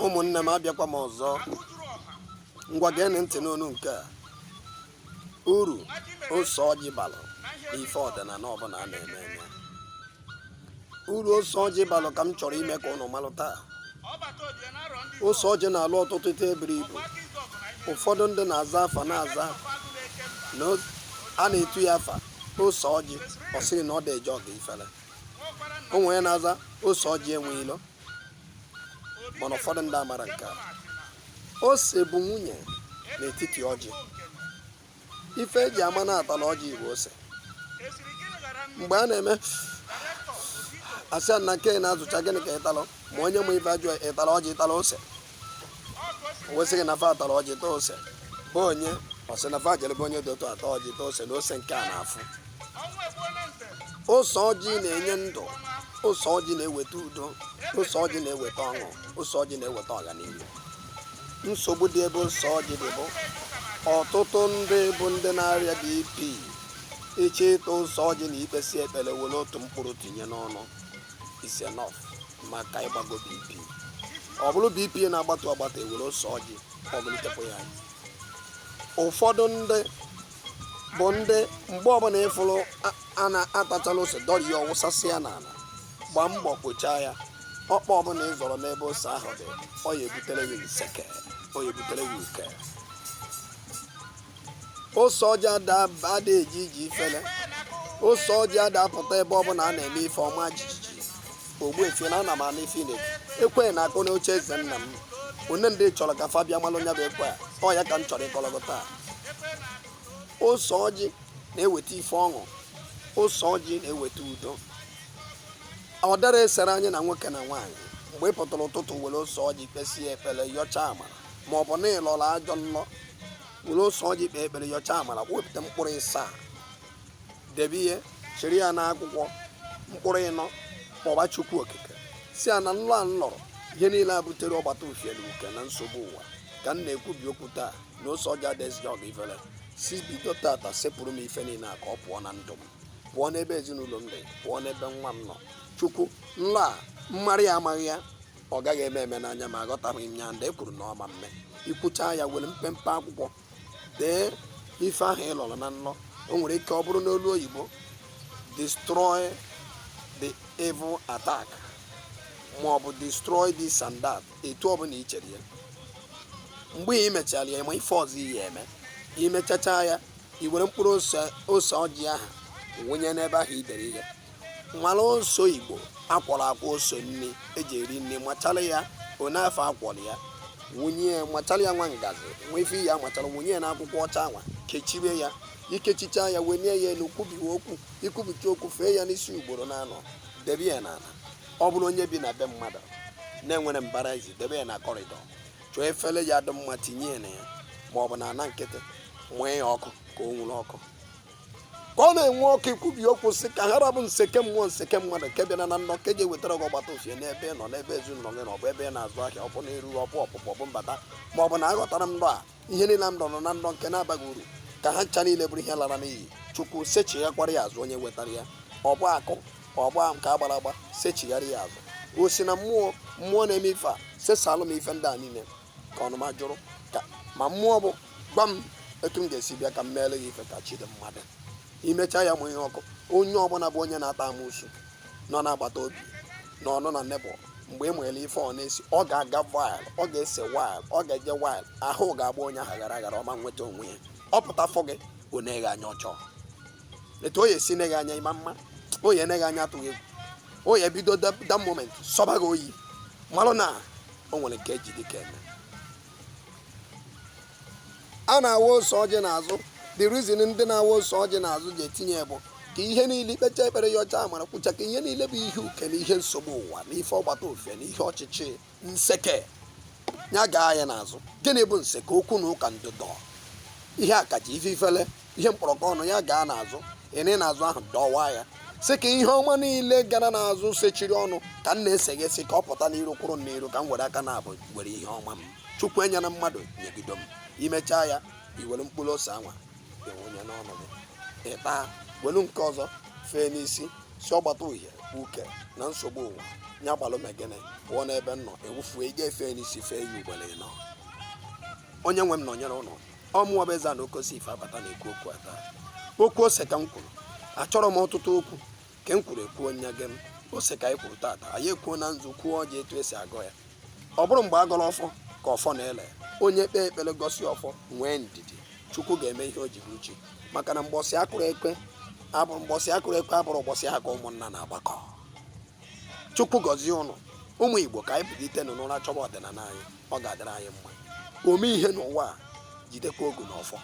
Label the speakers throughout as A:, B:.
A: ụmụnne m abịakwa m ọzọ ngwa geenụ ntị n'onu nke a uru ose ọjị balụ n'ife ọdịnala ọbụla a na-eme eme uru ose ọjị balụ ka m chọrọ ime ka unu malụ taa ose ọjị na-alụ ọtụtụ ife buru ibu ụfọdụ ndị na-aza afa na-aza na a na-etu ya afa ose ọjị ọ sịrị na ọ dị eje ọgụ ifere o nwere onye na-aza ose ọjị enwe ilo mana ụfọdụ ndị amara nke a ose bụ nwunye n'etiti ọjị ife e ji ama na a tala ọjị bụ ose mgbe a na-eme asị a na nke na-azụcha gịnị ka ị talụ ma onye ma ife ajụ ị tala ọjị ị tala ose wee sị gị na fa atara ọjị ta ose be onye ọ sị na fa jere be onye dị otu a ta ọjị ta ose na ose nke a na-afụ ose ọjị na-enye ndụ ose ọjị na-eweta udo ose ọjị na-eweta ọṅụ ose ọjị na-eweta ọganihu nsogbu dị ebe ose ọjị dị bụ ọtụtụ ndị bụ ndị na-arịa BP ị chọọ ịta ose ọjị na ikpesi ekpere were otu mkpụrụ tinye n'ọnụ is enough maka ịgbago bp ọ bụrụ bp na-agbatu agbatu e were ose ọjị ọ bulitekwa ya anyị ụfọdụ ndị bụ ndị mgbe ọbụla ị fụrụ a- a na-atachala ose dọrọ ya wụsasịa n'ala gbaa mbọ kpochaa ya ọkpa ọbụla ị zọrọ n'ebe ose ahụ dị ọ ya ebutere ya nseke ọ ya ebutere ya uke ose ọjị ada eje ije ifele ose ọjị ada apụta ebe ọbụla a na-eme ife ọma jijiji ogbuefi na ana m anụ ife na ekwe na-akụ n'oche eze nna m onye ndị chọrọ ka fa bịa malụ nya bụ ekwe ọ ya ka m chọrọ ịkọlọ gị taa ose ọjị na-eweta ife ọṅụ ose ọjị na-eweta udo ọ dara esere anyị na nwoke na nwaanyị mgbe ị pụtara ụtụtụ were ose ọjị kpesie ekpere yọcha amara ma ọ bụ na ị lọrọ ajọ nlọ were ose ọjị kpee ekpere yọcha amara wepụta mkpụrụ ịsaa debe ihe chịrị ya n'akwụkwọ mkpụrụ ịnọ kpọba chukwu okike sị ya na nlọ a m lọrọ ihe niile a butere ọgbata ufiere uke na nsogbu ụwa ka m na-ekwubi okwu taa na ose ọjị adịghị eje ọgụ ifere si bido tata sepụrụ m ife niile a ka ọ pụọ na ndụ m pụọ n'ebe ezinụlọ m dị pụọ n'ebe nwa m nọ chukwu nlọ a m mara amaghị ya ọ gaghị eme eme n'anya m aghọtaghị m ya ndị e kwuru na ọ ma mme i kwucha ya were mpempe akwụkwọ dee ife ahụ ị lọrọ na nlọ o nwere ike ọ bụrụ n'olu oyibo destroy the evil attack ma ọ bụ destroy this and that etu ọ bụla i chere ya mgbe ị mechara ya ma ife ọzọ ị ya eme i mechacha ya i were mkpụrụ ose ose ọjị ahụ wụnye n'ebe ahụ i dere ihe nwara oso igbo akwọrọ akwọ oso nri eji eri nri machara ya one afọ akwọrọ ya wụnye ya machara ya nwa ngazi nwa ife ya machara wụnye ya n'akwụkwọ ọcha anwa kechibe ya ikechicha ya wenye ya elu kwubiwe okwu ikwubicha okwu fee ya n'isi ugboro na anọ debe ya n'ala ọ bụrụ onye bi na be mmadụ na-enwerọ mbara ezi debe ya na corridor chọọ efere ya dị mma tinye ya na ya ma ọ bụ na ana nkịtị mụnye ya ọkụ ka o nwuru ọkụ ka ọ na-enwu ọkụ ikwubi okwu sị ka ha ra bụ nseke mmụọ nseke mmadụ nke bịara na nrọ nke ga-ewetara gị ọgbata ufie n'ebe ị nọ n'ebe ezinụlọ gị na ọ bụ ebe ị na-azụ ahịa ọ bụ na erughị ọ bụ ọpụpụ ọ bụ mbata ma ọ bụ na aghọtara m nrọ a ihe niile m rọrọ na nrọ nke na-abaghị uru ka ha ncha niile bụrụ ihe lara n'iyi chukwu sechighakwara ya azụ onye wetara ya ọ bụ akụ ọ bụ nke agbara agba sechigharị ya azụ o si na mmụọ mmụọ na-eme ife a sesalụ m ife ndị a niile ka ọnụma jụrụ ka ma mmụọ bụ gwa m etu m ga-esi bịa ka m meere ya ife ka chi dị mmadụ imecha ya mụnye ọkụ onye ọbụla bụ onye na-ata amụsu nọ n'agbata obi na ọnụ na neighbour mgbe ị nwere ife ọ na-esi ọ ga-aga wild ọ ga-ese wild ọ ga-eje wild ahụ ga-agba onye ahụ ghara aghara ọ ma nweta onwe ya ọ pụta fọ gị ọ na-ene gị anya ọ chọọ etu ọ ya-esi nee gị anya ịma mma ọ ya-ene gị anya atụghị egwu ọ ya-ebido that moment sọba gị ọ ya-amalụ na o nwere nke eji dịka eme a na-awa ose ọjị n'azụ the reason ndị na-awa ose ọjị n'azụ ji etinye bụ ka ihe niile ikpecha ekpere yọcha amara kwucha ka ihe niile bụ ihe uke na ihe nsogbu ụwa na ife ọgbata ufie na ihe ọchịchị nseke ya gaa ya n'azụ gịnị bụ nseke okwu na ụka ndụdọ ihe akaje ife ifele ihe mkpọrọgwụ ọnụ ya gaa n'azụ ene n'azụ ahụ dọwa ya sị ka ihe ọma niile gara n'azụ sechiri ọnụ ka m na-eseghesị ka ọ pụta n'iru kwụrụ m n'iru ka m were aka naabọ were ihe ọma m chukwu nyere mmadụ nyegido m imechaa ya iwere mkpụrụ ose anwa ịwụnye n'ọnụ gị ịta welu nke ọzọ fee n'isi sị ọgbata uhie uke na nsogbu ụwa nya gbalụ megene pụọ n'ebe m nọ ewufue ị ga-efe n'isi fee ya ugboro ịnọ onye nwe m nọnyere ụnụ ọ mụwa bụ eze na okosi ife abata na-ekwu okwu ata okwu ose ka m kwuru achọrọ m ọtụtụ okwu ka m kwuru ekwuo nya gị m ose ka anyị kwuru tata anyị ekwuo na nzu kwuo ọjị etu esi agọ ya ọ bụrọ mgbe agọrọ ọfọ ka ọfọ na-ele onye kpee ekpere gosi ọfọ nwee ndidi chukwu ga-eme ihe o ji bụrụ chi maka na mbọsị akụrụ ekwe abụrọ mbọsị akụrụ ekwe abụrọ ụbọchị ha ka ụmụnna na-agbakọ chukwu gọzie ụnụ ụmụ igbo ka anyị kulitenụ n'ụra chọba ọdịnala anyị ọ ga-adịrị anyị mma ome ihe n'ụwa a jidekwa ogu na ọfọ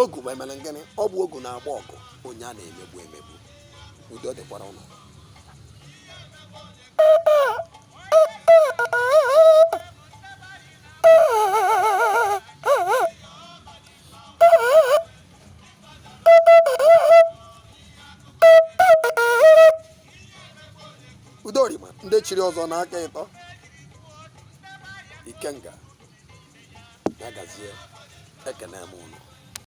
A: ogu ma emere m gịnị ọ bụ ogu na-agba ọgụ onye a na-emegbu emegbu udo dịkwara ụnụ udorima ndị chiri ọzọ n'aka ịtọ ikenga na-agazie ekene m ụnụ